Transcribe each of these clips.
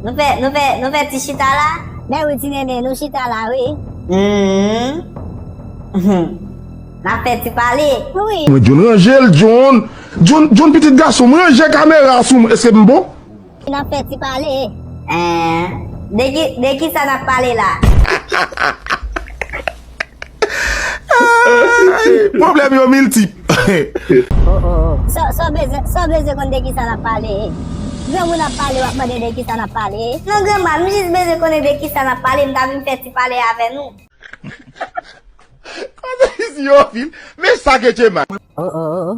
Nou fè, nou fè, nou fè ti chita la? Ben wi ti nene, nou chita la wi. Humm. Nap fè ti pale? Wi. Mwen John ranjel John John John pitit gasonm ranje kamera a sou mwen eske m bon? Nap fè ti pale? Eeh de ki de kisa nap pale la? Problem yo miltip. Oh oh oh Saw bezwen konn de kisa nap pale Gran moun ap pale wap mande de kisa nap pale Non granma m jis bezwen konnen de kisa nap pale m ta vin fè ti pale avè nou. Koze izi yo anpil men sa ke che man. Oh oh oh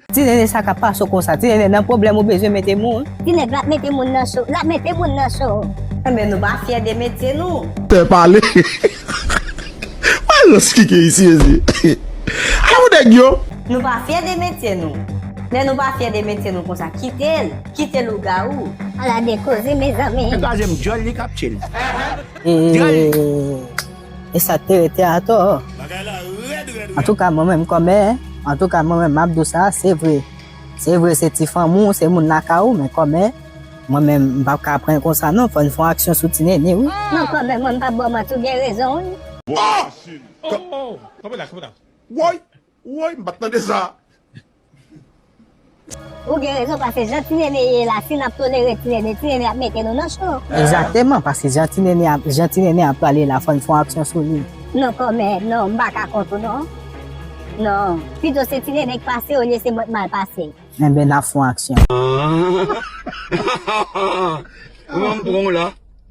Ti nene sa kap pase w konsa. Ti nene nan pwoblèm ou bezwen mete moun. Ti nèg lap mete moun nan cho. Lap mete moun nan cho. Enben nou pa fyè de metye nou. Pè pale Al nan spike isi mesye Alon nèg yo. Nou pa fyè de metye nou. Lè nou pa fyè de metye nou konsa kitel Kite lougawou. Ala de koze mezanmi. Li pa janm dyòl li kap tchel. Dyòl li. E sa k te rete atò. Bagay la rèd rèd rèd. Antouka mwen menm kòmè, antouka mwen menm m ap di w sa, se vre, se vre se ti fanmi w, se moun lakay ou men kòmè mwen menm m pap ka pran konsa non fò n fon aksyon sou ti nene wi. Non kòmè mwen m pap ba w manti w gen rezon wi. Woy! Woy m pat tande sa. Ou gen rezon paske jan ti nene ye la si nap tolere ti nene ti nene ap mete nou nan cho. Exactement paske jan ti nene a jan ti nene a pale la fòn fon aksyon sou li. Non kòmè non m paka kont ou non non pito se ti nene k pase olye se mwen k mal pase. Enben nap fon aksyon. Ahh Kman m pran w la.